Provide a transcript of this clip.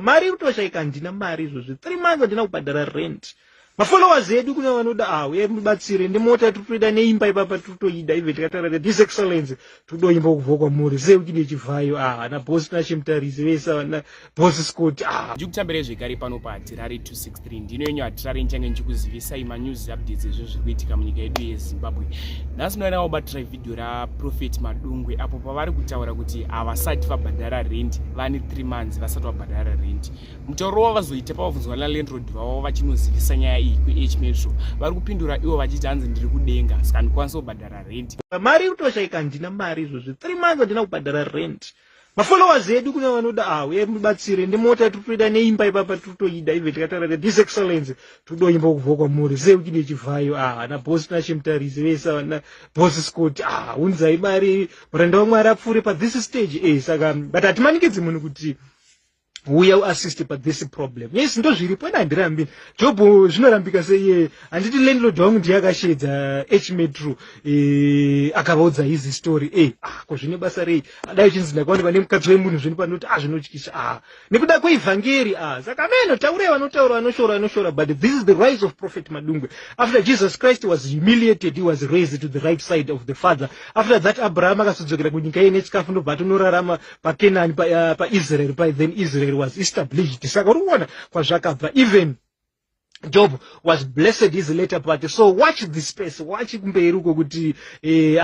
mari iri kutoshaika handina mari izvozvi three months handina kubhadhara rent mafollowers edu kune vanoda ah uye mubatsire nemota tiri kutoida neimba ipapa tiri kutoida ive tikataura that this excellence tiri kudoimba kubva kwamuri sei uchidi yechivhayo ah ana bosi nashimutarise vese vana bosi scott ah ndiri kutambira zvekare pano pahatirari 260 ndino yenyu hatirari nchange ndichikuzivisai manews updates ezvinhu zviri kuitika munyika yedu yezimbabwe nhasi unoyanawo batira vhidhiyo raprofet madungwe apo pavari kutaura kuti havasati vabhadhara rendi vane three months vasati vabhadhara rendi mutauro wavo vazoita pavabvunzwa nalandrod vavo vachinozivisa nyaya iyi kuh metro vari kupindura ivo vachiti hanzi ndiri kudenga saka ndikwanisa kubhadhara rendi mari iri kutoshaika handina mari izvozvi three months handina kubhadhara rendi mafollowers edu kune vanoda awo ye mubatsire ndimota tiri kutoida neimba ipapa tiri kutoida even tikataura kuti this excellence tiri kudoimba kubva kwamuri sei uchide chivhayo ah ana boss nashe mutarise vese ana boss scott ah unzai mari muranda wamwari apfuure pa this stage eh saka but hatimanikidzi munhu kuti uya uassist pa this problem yes ndo zviripo ena handirambi job zvinorambika seiye handiti landlord wangu ndiye akashedza h metro eh, akavaudza his story e ah, ko zvine basa rei adai chinzi ndakaona pane mukadzi wemunhu zvini panoti ah zvinotyisa ah nekuda kweivhangeri ah saka ameno taurei vanotaura vanoshora vanoshora but this is the rise of prophet madungwe after jesus christ was humiliated he was raised to the right side of the father after that abraham akasudzokera kunyika yene chikafu ndobva atonorarama pakenani paisraeri pa, uh, pa then israel was established saka uri kuona kwazvakabva even job was blessed his later party so watch this space watch kumberi uko kuti eh,